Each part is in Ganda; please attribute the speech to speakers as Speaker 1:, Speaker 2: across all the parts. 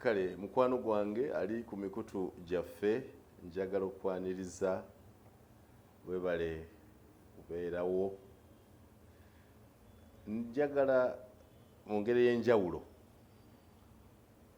Speaker 1: kale mukwano gwange ali ku mikutu gyaffe njagala okwaniriza webale kubeerawo njagala mu ngeri ey'enjawulo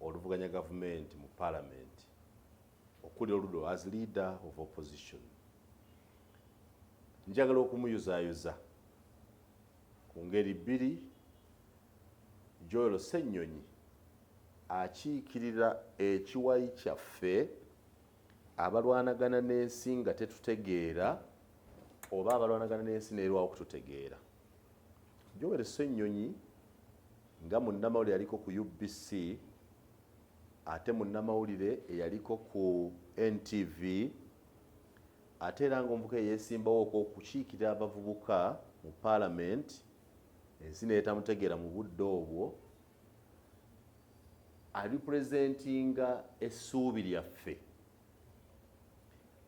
Speaker 1: oluvuganya gavumenti mu palamenti okuli oludo as leader of opposition njagala okumuyuzayuza ku ngeri bbiri joel senyonyi akiikirira ekiwayi kyaffe abalwanagana n'ensi nga tetutegeera oba abalwanagana n'ensi neerwawo okututegeera joel senyonyi Nga munnamawulire yaliko ku UBC ate munnamawulire eyaliko ku NTV ate era ng'omuvubuka eyeesimbawo okwokukiikirira abavubuka mu paalamenti ensi neyetamutegeera mu budde obwo alipurezentinga essuubi lyaffe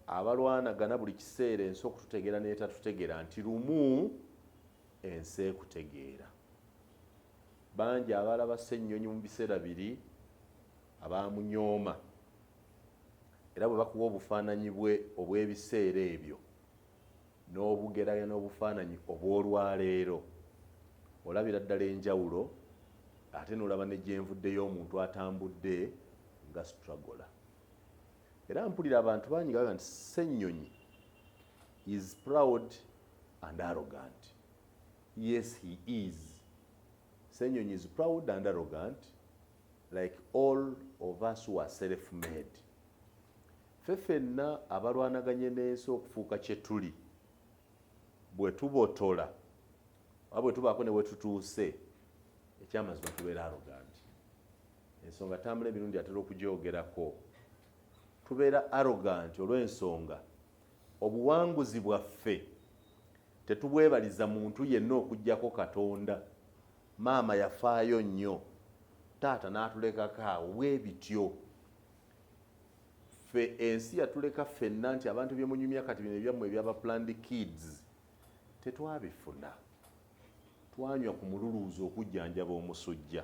Speaker 1: abalwanagana buli kiseera ensi okututegeera netatutegeera nti lumu ensi ekutegeera bangi abalaba ssennyonyi mu biseera biri abaamunyooma era bwe bakuwa obufaananyi bwe obw'ebiseera ebyo n'obugeraya n'obufaananyi obw'olwaleero olabira ddala enjawulo ate n'olaba ne gyenvuddeyo omuntu atambudde nga stragola era mpulira abantu bangi gaga nti ssennyonyi is proud and arrogant yes he is senyonyi is proud and arrogant like all of us who are self made fe fenna abalwanaganye n'ensi okufuuka kye tuli bwe tubotola oba bwe tubaako ne wetutuuse ekyamazima tubeera arrogant ensonga tambula emirundi atera okugyogerako tubeera arrogant olw'ensonga Obuwanguzi bwaffe tetubwebaliza muntu yenna okuggyako Katonda. Maama yafaayo nnyo taata n'atulekako awo bwe bityo. Ffe ensi yatuleka ffenna nti abantu bye munyumya kati bino ebyammwe ebyaba planned kids tetwabifuna. Twanywa ku mululuuza okujjanjaba omusujja.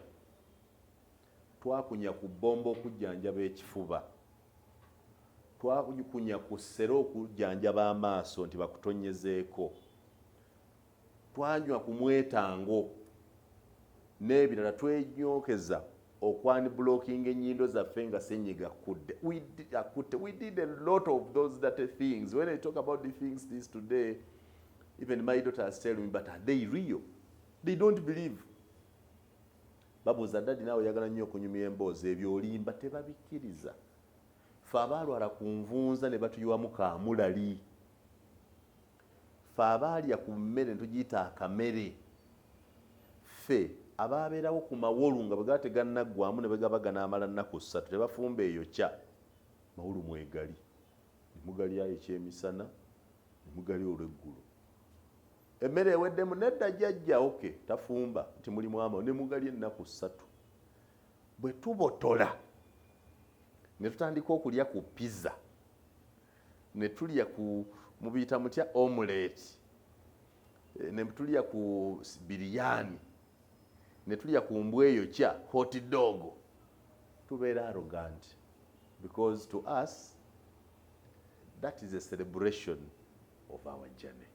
Speaker 1: Twakunya ku bbombo okujjanjaba ekifuba. Twakunya ku ssere okujjanjaba amaaso nti bakutonyezeeko. Twanywa ku mwetango n'ebirala. Twenyokeza okwanibulookinga ennyindo zaffe nga ssenyiga akudde. We did, akutte. We did a lot of those dirty things. When I talk about the things this today, even my daughters tell me, but are they real? They don't believe. babuuza dadi naawe oyagala nnyo okunyumya emboozi ebyo olimba tebabikkiriza fe abaalwala ku nvunza ne batuyiwamu kamulali fe abaalya ku mmere netugiyita akamere fe abaabeerawo ku mawolu nga bwe gaba tegannaggwamu ne bwe gaba ganaamala nnaku ssatu tebafumba eyo kya mawolu mwegali ne mugalyayo ekyemisana ne mugalya olweggulo Emmere eweddemu nedda jjajja ok tafumba nti mulimu ama ne mugali ennaku ssatu bwe tubotola ne tutandika okulya ku pizza ne tulya ku mubiyita mutya omuleeti eh, ne tulya ku biriyani ne tulya ku mbwa eyo kya hot dog tubeera arrogant because to us that is a celebration of our journey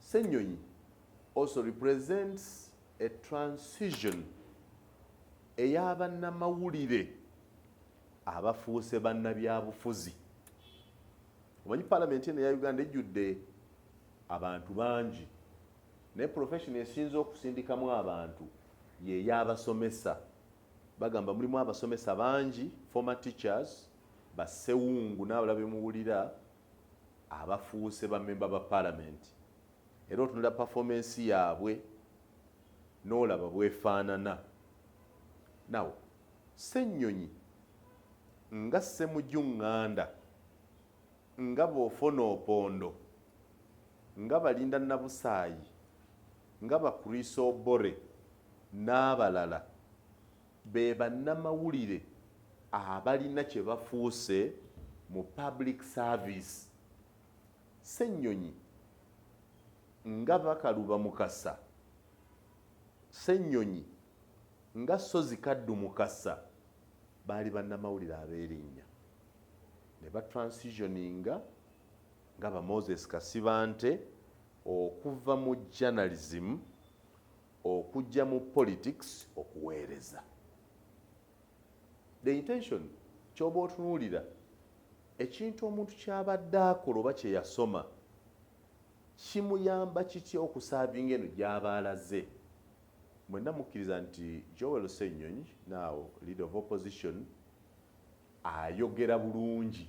Speaker 1: Ssenyonyi also represents a transition eya bannamawulire abafuuse bannabyabufuzi omanyi palamenti eno eya uganda ejjudde abantu bangi naye profession esinza okusindikamu abantu yeyabasomesa bagamba mulimu abasomesa bangi former teachers basewungu n'abala bemuwulira abafuuse ba member ba parliament era otunula performance yaabwe n'olaba bwefaanana now ssennyonyi nga ssemuju ŋŋanda nga bwofona opondo nga balinda nabusaayi nga bakriso obore n'abalala Be bannamawulire abalina kye bafuuse mu public service. Ssenyonyi nga Bakaluba Mukasa, Ssenyonyi nga Ssozi Kaddu Mukasa baali bannamawulire ab'erinnya ne ba transitioninga nga ba Moses Kasibante okuva mu journalism okujja mu politics okuweereza the intention kyoba otunuulira ekintu omuntu kyabadde akola oba kyeyasoma kimuyamba kitya okusaavinga eno gyaba alaze mwenna mukkiriza nti joel senyonyi now leader of opposition ayogera bulungi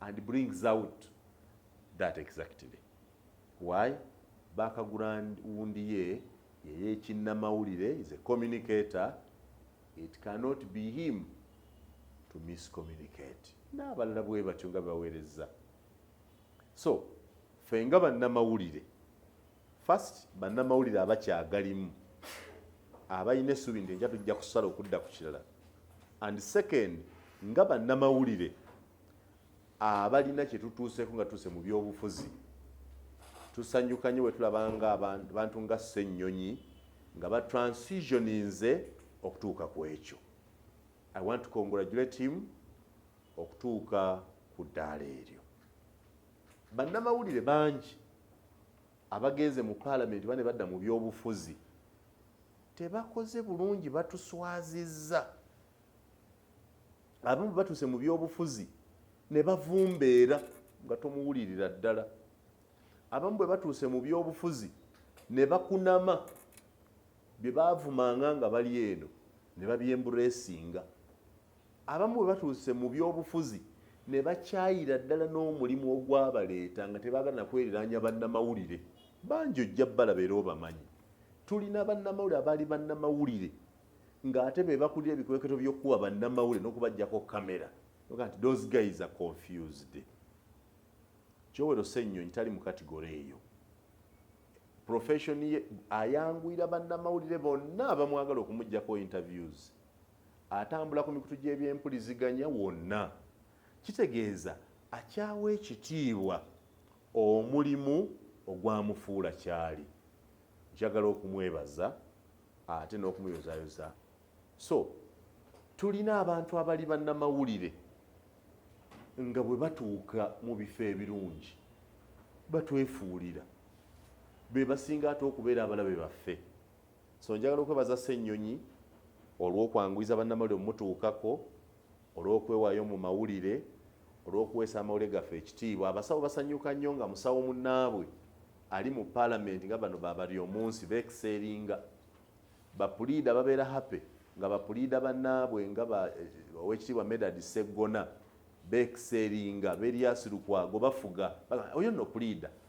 Speaker 1: and brings out that exactly why background wundi ye yeyekinnamawulire is a communicator it cannot be him to miscommunicate n'abalala bwe batyo nga baweereza so ffe nga bannamawulire First bannamawulire abakyagalimu abalina essuubi nti enkya tujja kusala okudda ku kirala and second nga bannamawulire abalina kye tutuuseeko nga tuuse mu byobufuzi tusanyuka nnyo bwe tulaba nga abantu nga ssennyonyi nga ba transitioninze okutuuka ku ekyo i want to congratulate him okutuuka ku ddaala eryo Bannamawulire bangi abagenze mu paalamenti bane badda mu byobufuzi tebakoze bulungi, batuswazizza. Abamu batuuse mu byobufuzi ne bavumbeera nga tomuwulirira ddala. Abamu bwe batuuse mu byobufuzi ne bakunama bye baavumanga nga bali eno ne babyemburesinga. Abamu bwe batuuse mu byobufuzi ne bakyayira ddala n'omulimu ogwabaleeta nga tebaagala na kweriraanya bannamawulire. Bangi ojja balaba era obamanyi. Tulina bannamawulire abaali bannamawulire ng'ate be bakulira ebikwekweto by'okukuba bannamawulire n'okubaggyako kkamera. Oga nti those guys are confused. Kyowero Ssennyonyi tali mu katigore eyo. Profession ye ayanguyira bannamawulire bonna abamwagala okumuggyako interviews. Atambula ku mikutu gy'ebyempuliziganya wonna, kitegeeza akyawa ekitiibwa omulimu ogwamufuula ky'ali. Njagala okumwebaza ate n'okumuyozaayoza. So, tulina abantu abali bannamawulire nga bwe batuuka mu bifo ebirungi batwefuulira be basinga ate okubeera abalabe baffe. so njagala okwebaza ssennyonyi olw'okwanguyiza bannamawulire omutuukako olw'okwewaayo mu mawulire olw'okuweesa amawulire gaffe ekitiibwa abasawo basanyuka nnyo nga musawo munnaabwe ali mu paalamenti nga bano babali omunsi beekiseeringa bapuliida babeera happy nga bapuliida bannaabwe nga eh, owekitiibwa medad seggona beekiseeringa beryasirukwago bafuga oyo nno puliida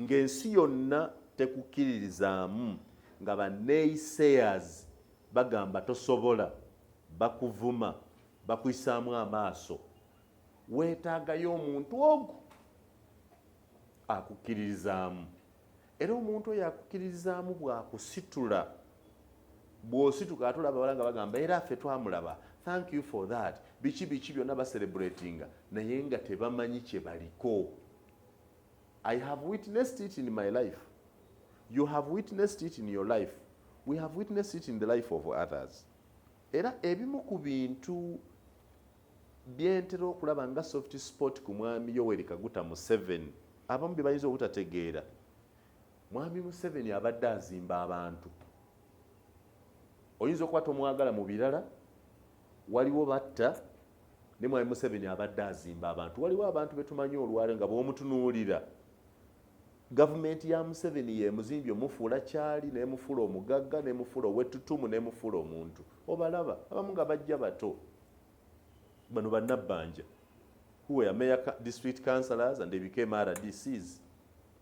Speaker 1: ng'ensi yonna tekukkiririzaamu nga ba naysayers bagamba tosobola, bakuvuma, bakuyisaamu amaaso, weetaagayo omuntu ogu akukkiririzaamu era omuntu oyo akukkiririzaamu bwakusitula bwosituka ate olaba bala nga bagamba era ffe twamulaba thank you for that biki biki byonna baserebulatinga naye nga tebamanyi kye baliko I have witnessed it in my life. You have witnessed it in your life. We have witnessed it in the life of others. Era ebimu ku bintu byentera okulaba nga soft sport ku mwami Yoweri Kaguta Museveni abamu bye bayinza obutategeera. Mwami Museveni abadde azimba abantu. Oyinza okuba tomwagala mu birala, waliwo batta, ne mwami museveni abadde azimba abantu waliwo abantu betumanyi olwale nga bwomutunuulira gavumenti ya museveni yemuzimbye omufuula kyali nemufuula omugagga nemufuula owetutumu nemufuula omuntu obalaba abamu nga bajja bato bano banabbanja huwe ameya district councilors and ebikema rdcs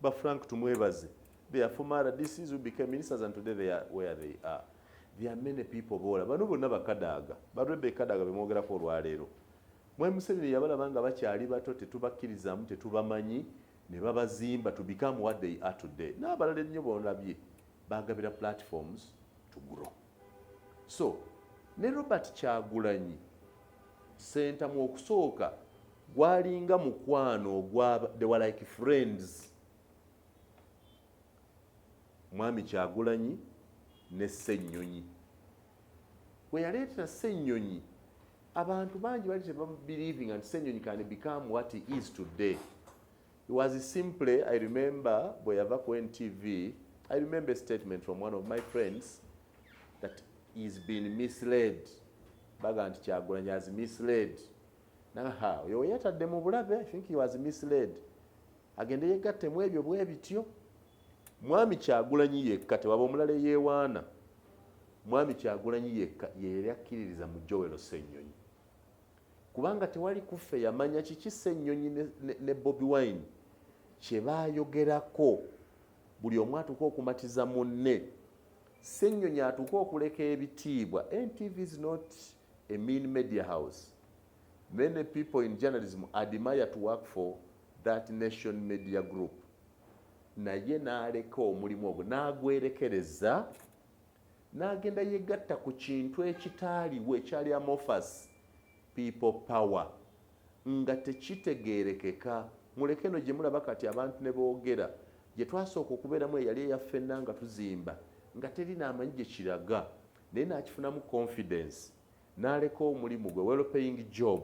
Speaker 1: Ba Frank tumwebaze. They are former RDCs who became ministers and today they are where they are. There are many people bola. Bano bonna bakadaaga. Ba Rebbe Kadaga bemwogerako olwaleero. Mwami Museveni yabalaba nga bakyali bato tetubakkirizamu tetubamanyi ne babazimba to become what they are today. N'abalala ennyo bonabye bagabira platforms to grow. So ne Robert Kyagulanyi Ssentamu okusooka gwalinga mukwano ogwa they were like friends mwami kyagulanyi ne ssennyonyi we yaleetera ssennyonyi abantu bangi bali tebabelievinga nti ssennyonyi can become what he is today It was simply, I remember bweyava ku NTV, I remember a statement from one of my friends that he's been misled. Baga nti Kyagulanyi has misled. Naha, oyo weyatadde mu bulabe, I think he was misled. Agende yegatte mu ebyo bwe bityo. Mwami Kyagulanyi yekka tewaba omulala eyewaana. Mwami Kyagulanyi yekka yeyali akkiririza mu Joel Ssenyonyi. kubanga tewali kuffe yamanya kiki Ssenyonyi ne, ne, ne Bobi Wine kye baayogerako buli omu atuuka okumatiza munne Ssenyonyi atuuka okuleka ebitiibwa NTV is not a mean media house many people in journalism admire to work for that nation media group naye n'aleka omulimu ogwo n'agwerekereza n'agenda yegatta ku kintu ekitaaliwo ekyali amorphous people power nga tekitegeerekeka muleke no gye mulaba kati abantu ne boogera gye twasooka okubeeramu eyali eyaffenna nga tuzimba nga teri naamanyi gye kiraga naye n'akifunamu confidence n'aleka omulimu gwe well paying job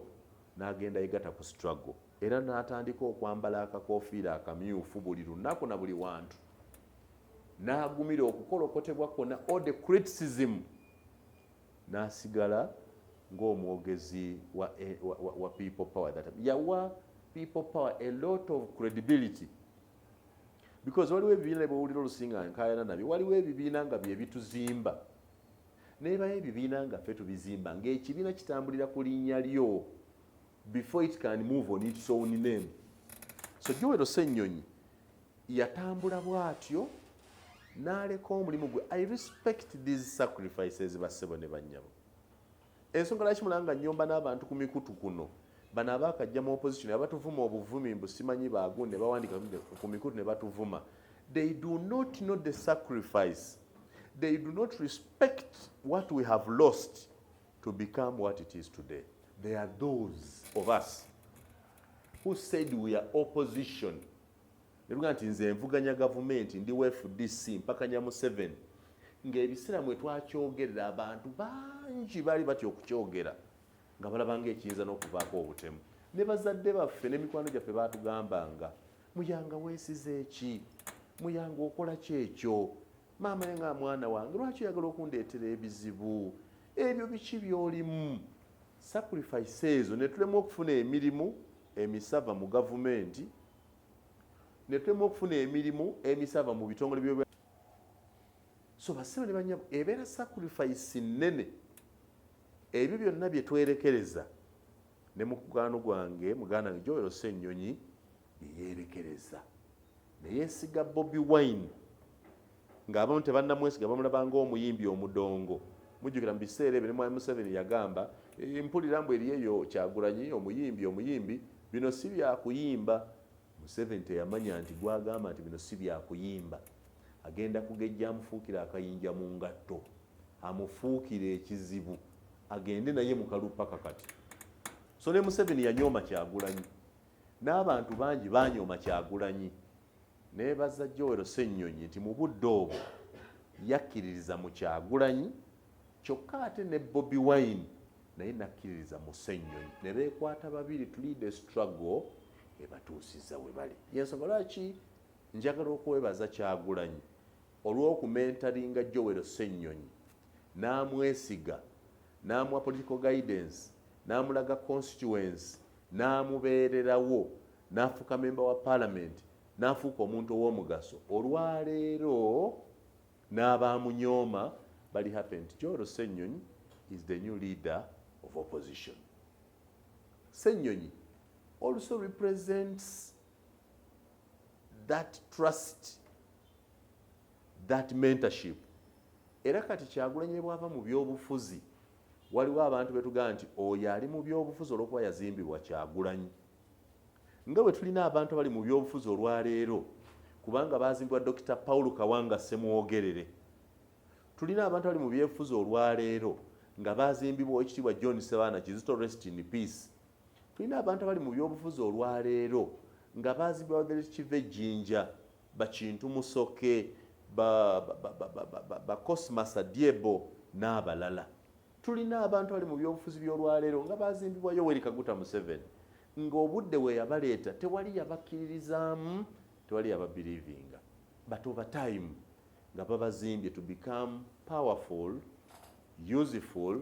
Speaker 1: n'agenda yegata ku struggle era n'atandika okwambala akakofiira akamyufu buli lunaku na buli wantu n'agumira okukolokotebwa kwona all the criticism n'asigala ng'omwogezi wa, eh, wa, wa, wa people power that yawa people power a lot of credibility because waliwo ebibiina bwewulira olusinga nkayana nabyo waliwo ebibiina nga byebituzimba Nebayo ebibiina nga ffe tubizimba nga ekibiina kitambulira ku linnya lyo before it can move on its own name. So Joel Ssenyonyi yatambula bwatyo n'aleka omulimu gwe. I respect these sacrifices ba ssebo ne bannyabo. Ensonga lwaki mulanga nnyomba n'abantu ku mikutu kuno bano abakajja mu opposition abatuvuma obuvumi mbu simanyi baagundi ne bawandika ku mikutu ne batuvuma they do not know the sacrifice They do not respect what we have lost to become what it is today. They are those of us who said we are opposition. Nebuga nti nze nvuganya gavumenti ndi FDC mpakanya Museveni ng'ebiseera mwe twakyogerera abantu bangi baali batya okukyogera nga balabanga ekiyinza n'okuvaako obutemu ne bazadde baffe n'emikwano gyaffe baatugambanga muyanga wesize eki muyanga okola kyekyo maama nga mwana wange lwaki oyagala okundeetera ebizibu ebyo biki byolimu sacrifice ezo netulemu okufuna emirimu emisava mu gavumenti netulemu okufuna emirimu emisava mu bitongole byob so basibe ne banyabo ebeera sacrifice nnene ebyo byonna byetwerekereza ne mukwano gwange muganda wange Joel Ssenyonyi ye yeerekereza ne yeesiga Bobi Wine ng'abamu tebannamwesiga bamulaba ng'omuyimbi omudongo mujjukira mu biseera ebyo ne mwami Museveni yagamba eh, mpulira mbu eriyo eyo kyagulanyi omuyimbi omuyimbi bino si byakuyimba Museveni teyamanya nti gwagamba nti bino si byakuyimba agenda kugejja amufuukira akayinja mu ngatto amufuukire ekizibu agende naye mukalu paka kati so ne museveni yanyooma kyagulanyi n'abantu bangi banyooma kyagulanyi naye baza jowero sennyonyi nti mu budde obwo yakkiririza mu kyagulanyi kyokka ate ne bobi wine naye nakkiririza mu sennyonyi ne beekwata babiri tulide struggle ebatuusiza we bali yensonga lwaki njagala okwebaza kyagulanyi Olw'okumentaringa Joel Ssenyonyi n'amwesiga n'amuwa political guidance n'amulaga constituency n'amubeererawo n'afuuka memba wa palamenti n'afuuka omuntu ow'omugaso olwaleero n'abaamunyooma bali happy nti Joel Ssenyonyi is the new leader of opposition. Ssenyonyi also represents that trust that mentorship era kati kyagulanye bwava mu byobufuzi waliwo abantu betugamba nti oyo ali mu byobufuzi olwokuba yazimbibwa kyagulanyi nga bwe tulina abantu abali mu byobufuzi olwaleero kubanga bazimbibwa dokita paul kawanga semwogerere tulina abantu abali mu byefuzi olwaleero nga bazimbibwa ekitiibwa john sebaana kizito rest in peace tulina abantu abali mu byobufuzi olwaleero nga bazi brother kiva ejjinja bakintu musoke bacosmasa diebo n'abalala tulina abantu abali mu byobufuzi by'olwaleero nga bazimbibwa yoweri kaguta museven ng'obudde we yabaleeta tewali yabakkiririzaamu tewali yababilivinga but over time nga babazimbye to become powerful useful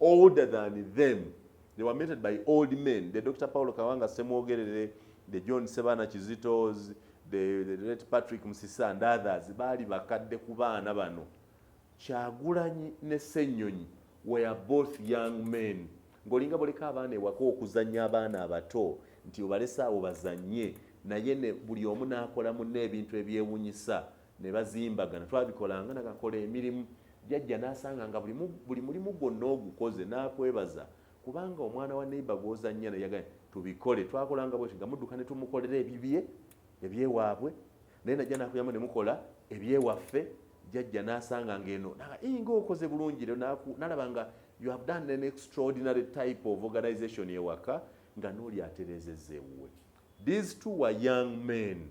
Speaker 1: older than them they were mentored by old men the dr paulo kawanga semwogerere the john sebana kizitos the, the late patrick musisa and others baali bakadde ku baana bano kyagulanyi ne senyonyi were both young men ngaolinga boleka abaana ewaka okuzanya abaana abato nti obalese awo bazanye naye ne buli omu nakola munne ebintu ebyewunyisa ne bazimbagana twabikolanga nagakola emirimu jajja n'asanga nga buli mulimu gwonna ogukoze n'akwebaza kubanga omwana wa neiba gwozannya naye yagambye tubikole twakolanga bwekyo nga mudduka ne tumukolera ebibye ebyewaabwe naye najja nakuyamu ne mukola ebyewaffe jajja n'asanga ng'eno inga okoze bulungi nalaba nga you have done an extraordinary type of organization ewaka nga n'oli atereezezza ewuwe these two were young men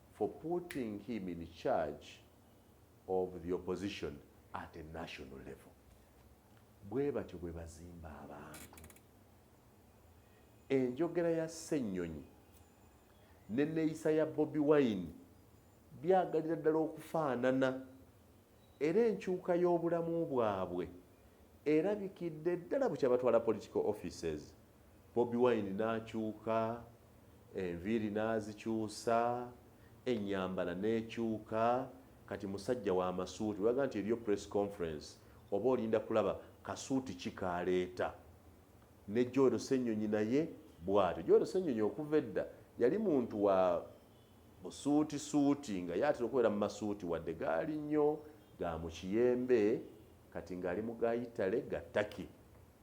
Speaker 1: for putting him in charge of the opposition at a national level bwe batyo bwe bazimba abantu enjogera ya ssennyonyi neneeyisa ya bobi wine byagalira ddala okufaanana era enkyuka y'obulamu bwabwe erabikidde ddala bukyabatwala political offices Bobi Wine n'akyuka, enviiri n'azikyusa, ennyambala n'ekyuka, kati musajja wa masuuti. Olaga nti eriyo press conference oba olinda kulaba kasuuti ki k'aleeta? Ne Joel Ssenyonyi naye bw'atyo. Joel Ssenyonyi okuva edda yali muntu wa busuutisuuti nga ye atera okubeera mu masuuti wadde gaali nnyo ga mu kiyembe kati ng'ali mu ga Yitale ga Turkey.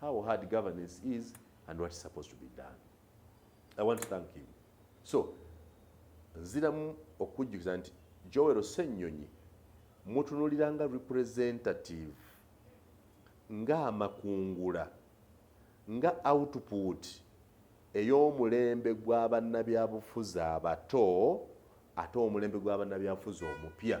Speaker 1: how hard governance is and what is supposed to be done. I want to thank him. So, nziramu okujjukiza nti Joel Ssenyonyi mutunulira nga representative nga amakungula nga output ey'omulembe gw'abannabyabufuzi abato ate omulembe gw'abannabyabufuzi omupya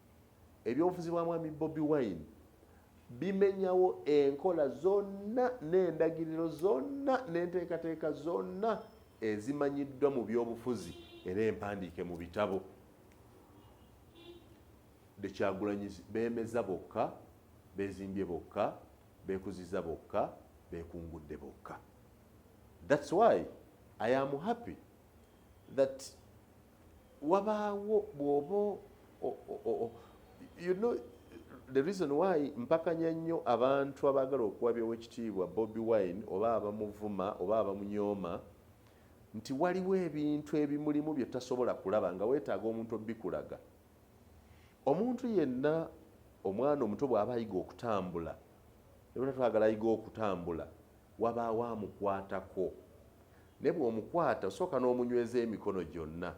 Speaker 1: Ebyobufuzi bwa mwami Bobi Wine bimenyawo enkola zonna n'endagiriro zonna n'enteekateeka zonna ezimanyiddwa mu byobufuzi era empandiike mu bitabo dekyagulanyi bemeza bokka bezimbye bokka bekuziza bokka bekungudde bokka thats why i am happy that wabaawo bwoba you know the reason why mpakanya nnyo abantu abaagala okuwabyawo ekitiibwa bobi wine oba abamuvuma oba abamunyooma nti waliwo ebintu ebimulimu bye tasobola kulaba nga weetaaga omuntu obikulaga omuntu yenna omwana omuto bw'aba ayiga okutambula ebona twagala ayiga okutambula Wabaawo amukwatako. Naye bw'omukwata osooka n'omunyweza emikono gyonna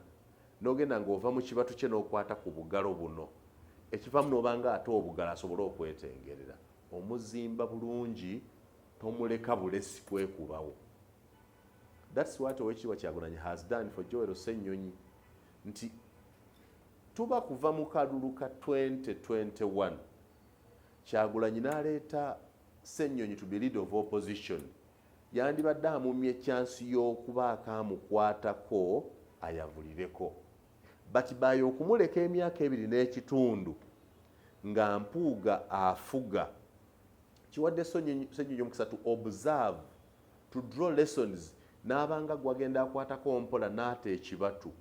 Speaker 1: n'ogenda ng'ova mu kibatu kye n'okwata ku bugalo buno ekivaamu n'oba ng'ate obugalo asobole okwetengerera. Omuzimba bulungi tomuleka bulesi kwekubawo. That's what Oweekitiibwa Kyagulanyi has done for Joel Ssenyonyi nti tuba kuva mu kalulu ka 2021 Kyagulanyi n'aleeta Ssenyonyi to be leader of opposition yandibadde amumye chance y'okubaako amukwatako ayavulireko but by okumuleka emyaka ebiri n'ekitundu nga Mpuuga afuga kiwadde Ssenyonyi omukisa to observe to draw lessons n'abanga gwagenda akwatako mpola n'ata ekibatu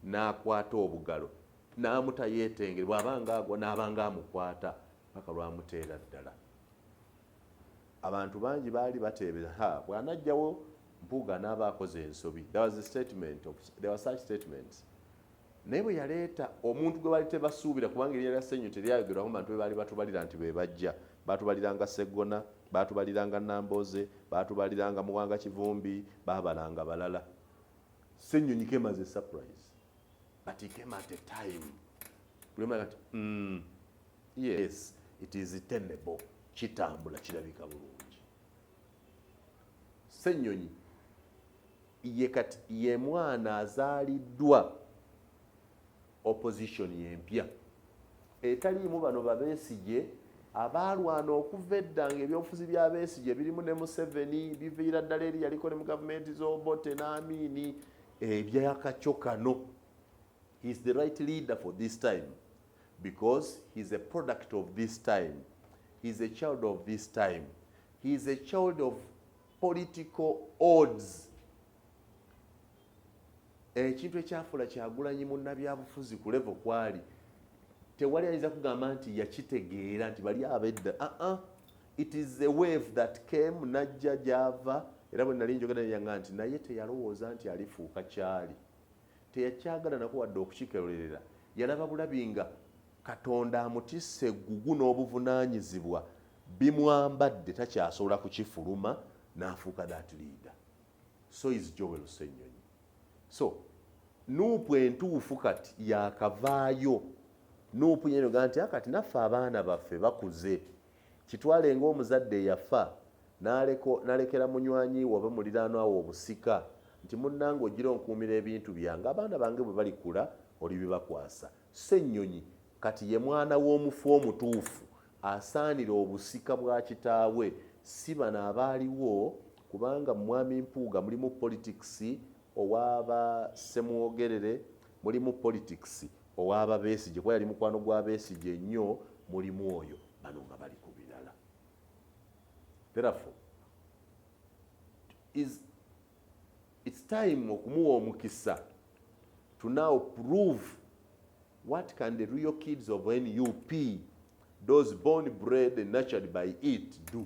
Speaker 1: n'akwata obugalo n'amuta yeetengere bw'aba nga agwa n'aba nga amukwata paka lwamuteera ddala abantu bangi baali bateebeza ha bw'anajjawo mpuuga n'aba akoze ensobi statements naye bwe yaleeta omuntu gwe baali tebasuubira kubanga eryalya senyu teryayogerwako bantu be baali batubalira nti be bajja batubaliranga seggona batubaliranga nambooze batubaliranga muwanga kivumbi babalanga balala sennyonyi kemaze surprise but he came at a time bulema kati mm, yes it is tenable kitambula kirabika bulungi senyonyi ye kati ye mwana azaaliddwa opposition yempya etaliimu bano babesigye abaalwana okuva edda nga ebyobufuzi bya besigye birimu ne museveni biviira ddala eri yaliko ne mu gavumenti z'obote n'amiini ebyakakyo kano he is the right leader for this time because he is a product of this time he is a child of this time he is a child of political odds ekintu ekyafuula kyagulanyi munnabyabufuzi ku levo kwali tewali ayinza kugamba nti yakitegeera nti bali abedda aa ah, ah. It is a wave that came najja gyava era bwe nali njogera neyanga nti naye teyalowooza nti alifuuka kyali teyakyagala nako wadde okukikerolerera yalaba bulabi nga katonda amutisse eggugu n'obuvunaanyizibwa bimwambadde takyasobola kukifuluma n'afuuka that leader so is joel senyonyi so nuupu entuufu kati yakavaayo nuupu yenoga nti akati ah, naffe abaana baffe bakuze Kitwale ng'omuzadde eyafa n'aleka n'alekera munywanyi we oba muliraanwa we obusika nti munnange ojjira onkuumira ebintu byange abaana bange bwe balikula olibibakwasa. Ssenyonyi kati ye mwana w'omufu omutuufu asaanira obusika bwa kitaawe si bano abaaliwo kubanga mu Mwami Mpuuga mulimu politics Owa ba Ssemwogerere mulimu politics, owa ba Besigye kuba yali mukwano gwa Besigye nnyo mulimu oyo, bano nga bali ku birala. Therefore, is it's time okumuwa omukisa to now prove what can the real kids of nup those born bred and nurtured by it do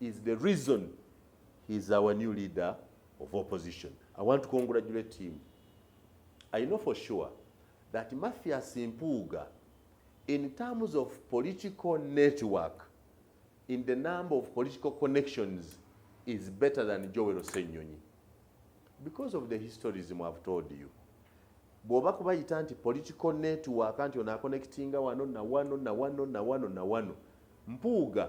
Speaker 1: is the reason he is our new leader of opposition. I want to congratulate him. I know for sure that Mathias Mpuga, in terms of political network, in the number of political connections, is better than Joel Osenyonyi. Because of the historism I've told you. bw'oba kubayita nti political network nti onaakonectinga wano na wano na wano na wano na wano mpuuga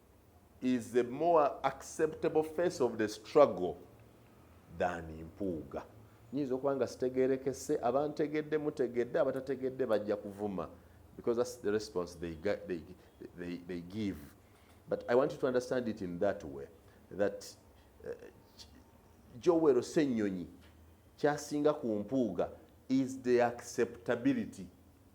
Speaker 1: is a more acceptable face of the struggle than mpuuga nyinza okuba nga sitegerekese abantegedde mutegedde abatategedde bajja kuvuma because that's the response they, they, they, they give but i want you to understand it in that way that uh, jowero senyonyi kyasinga ku mpuuga is the acceptability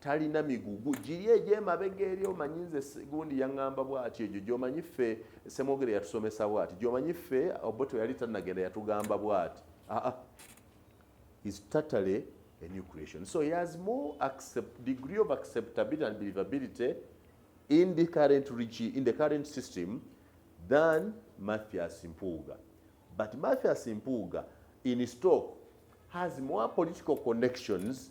Speaker 1: talina migugu giri egyemabega eri omanyi nze gundi yaŋŋamba bwati egyo gyomanyi ffe semwogere yatusomesa bwati gyomanyi ffe oboto yali tanagenda yatugamba bwati aa ah, ah. is totally a new creation so he has more accept, degree of acceptability and believability in the current regi, in the current system than mathias mpuuga but mathias mpuuga in stock has more political connections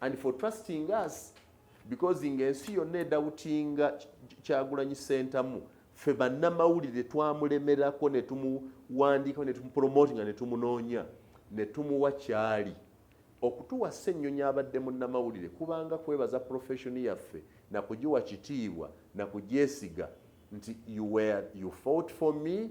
Speaker 1: and for trusting us because nga ensi yonna edawutinga kyagulanyi sentamu fe bannamawulire twamulemerako netumuwandiikao netumupromotinga netumunoonya netumuwa kyali okutuwa ssennyonyi abadde munnamawulire kubanga kwebaza profession yaffe nakugiwa kitiibwa nakugyesiga nti you were you fought for me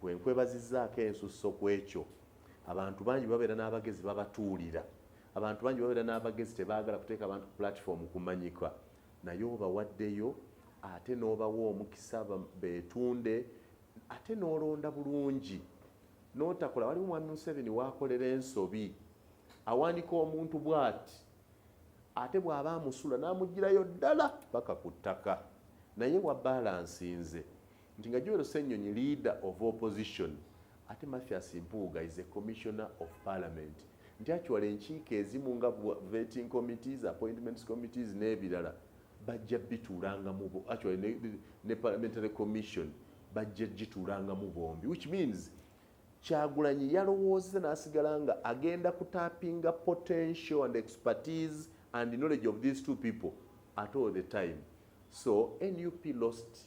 Speaker 1: Gwe nkwebazizzaako ensusso ku ekyo. Abantu bangi bwe babeera n'abagezi babatuulira. Abantu bangi bwe babeera n'abagezi tebaagala kuteeka bantu ku pulatifoomu kumanyika. Naye obawaddeyo ate n'obawa omukisa beetunde ate n'olonda bulungi n'otakola. Waliwo Mwami Museveni w'akolera ensobi, awanika omuntu bw'ati ate bw'aba amusula n'amuggyirayo ddala paka ku ttaka. Naye wabaalansinze Nti nga Joel Ssenyonyi leader of opposition ate Mathias Mpuuga is a commissioner of parliament nti actually enkiiko ezimu nga vetting committees, appointments committees n'ebirala bajja bituulangamu actually ne, ne parliamentary commission bajja gituulangamu bombi which means kyagulanyi yalowoozeza n'asigala nga agenda kutapinga potential and expertise and knowledge of these two people at all the time so nup lost